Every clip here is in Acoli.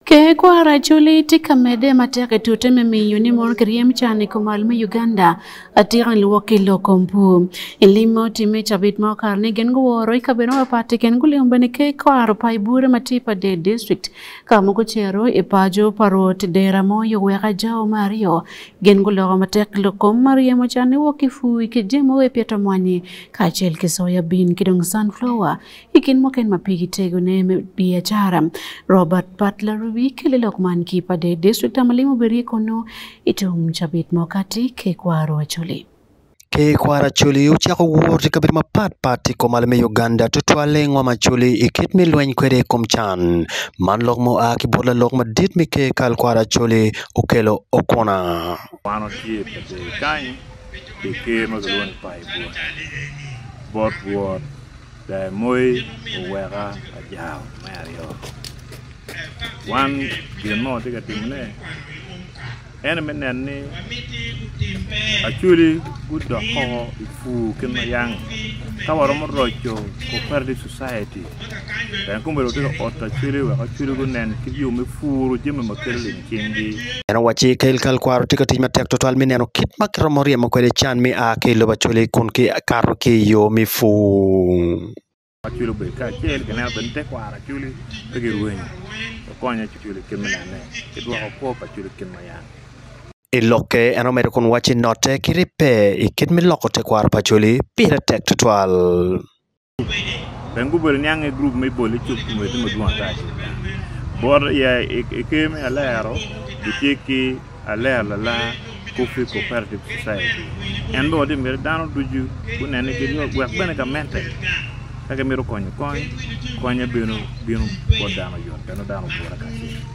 Ker kwaro Acholi tye ka medde matek i tute me miyo ni mono kiryem can i kom al me Uganda atika ni luwok ki lok kom pur. I lim ma otimme i cabit ma okato ni gin guworo i kabedo mapat i kin gulimo bene ker kwaro pa i bure ma tye i Pader district ka ma gucito i paco pa rwot dera mo i oweko ajao me aryo gin guloko matek ki lok kom ma ryemo can ni wok ki pur ki jemo wai pito mwanyi kacel ki soya bean ki dong sunflower I gin muken ma pigi tegone me biacara, Robert Butler Ruby kele lok man ki pa de district a ma limo Berie kunu i tum cabit mo kati ke kwaro Acholi. Ke kwaro Acholi ocako wot i kabedo mapat pat i kom ale me Uganda tutwale i ngom Acholi i kit me lweny kwede i kom can. Man lok mo a ki bot lalok madit me ke kal kwaro Acholi okelo okuna. Kwan otye pa jo i Kanyi pi ker ma kilwongo ni Paibua bot Rwot. Ber moi oweka ajao me aryo. Wan gin mo watye ka timone ene me neno ni Acholi gudok koko i pur kit ma yang. Ka waromo roco Cooperative Society, Gankumbelo watye ka oto Acholi wek Acholi gunen kit yo me puru jami ma kelo leng. cingi. En owacci, Ka ilkalkwaro tye ka tic matek twatwal me neno kit ma kiromo ryemo kwede can me a ki i lobo Acholi kun kikato ki i yo me pur. Acholi obedo kacel, gineno bene ni tekwaro Acholi pe girwenyo. Wakonyo Acholi i kit me neno ne ki dwoko kwo pa Acholi i kit ma yam. I lokke, en omedo kun wacci note ki ribbe i kit me loko tekwaro pa Acholi pire tek twatwal. Pien gubedo niang i gurup me bol icuk kun wek timo dwong ata acel gang. Bot aye i ker me alero gitye ki alero lalar Coffee Cooperative Society. En bene watye miti dano ducu gunene giryom wek bene gamente ka gimito konyo kony konye bino bino bot dano yot pien dano ogure kacel.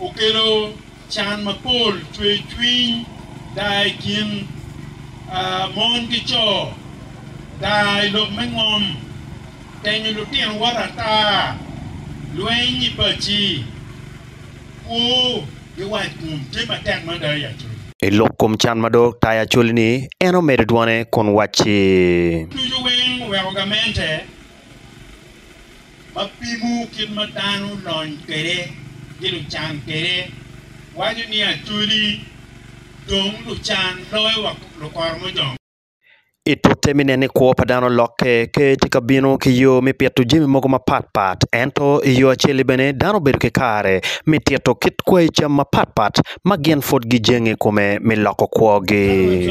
Okelo can mapol, cwercwiny, daa i kin mon ki co, daa i lok me ngom, tenyo lutino wot ata, lweny i paci, kwo ki wackom tye matek mada i Acoli. I lok kom can ma dok tayo Acoli-ni, en omedo dwone kun wacci. Ducu weng oweko gamente. ma pimo kit ma dano lony kwede ki lucan kwede, waco ni Acholi dong lucan loyo wa lukoro mojong. I tute me neno ni kwo pa dano olokke, Ker tye ka bino ki yo me pito jami mogo mapat pat. Ento i yo acel-li bene, dano obedo ki kare me tito kit kwayi cam mapat pat ma gin pud gijenge i kome me loko kwogi.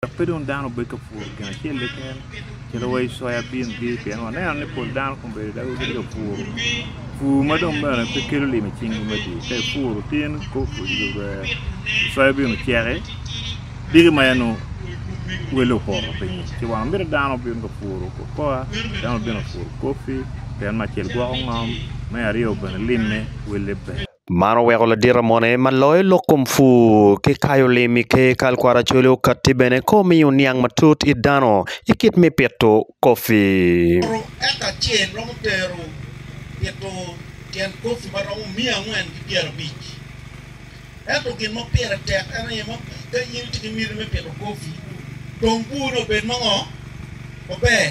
Dok pe dong dano obed ka puro gin acel keken calo wa i coyabin-gi pien waneno ni pol dano kong bedo dago gitye ka puro. Pur ma dong bene pe kelo limi i cinggi me dye ka ipuro tye ni coyabin oceki diki ma en nongo wele opoto pinyi ci wa miti dano obin ka puro kokoa dano obin ka puro kopi pien me acel gwoko ngom me aryo bene limme wele ber. Man oweko ladit amone ma loyo lok kom pur ki kayo lim i ker kal kwaracolle okatti bene ka omiyo niang matut it dano i kit me pito kopi. Puro eka acel romo tero pito tyen kopi ma romo miya angwen ki pyera abic. Ento gin ma pire tek en aye ma ka in itye ki miti me pito kopi, tong purne obed mango maber.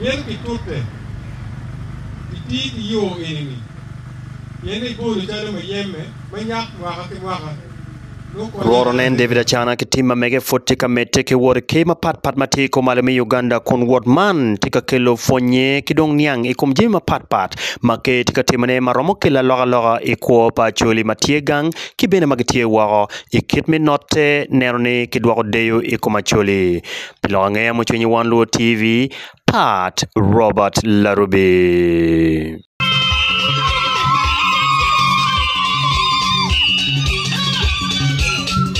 Myero kitute iti ki yo eni-ni pien egolo calo muyeme ma nyak mwaka ki mwaka, nongo konyo Lworo nen David Acana ki tim ma mege pwod tye ka medde ki wot i ker mapat pat ma tye i kor malo me Uganda kun wot man tye ka kelo pwonnye ki dong niang i kom jami mapat pat ma ker tye ka timone ma romo kelo alokaloka i kwo pa Acholi ma tye gang ki bene ma gitye woko i kit me note neno ni kidwoko deyo i kom Acholi pi lok angeya mucwiny won luo TV Pat Robert Larubi.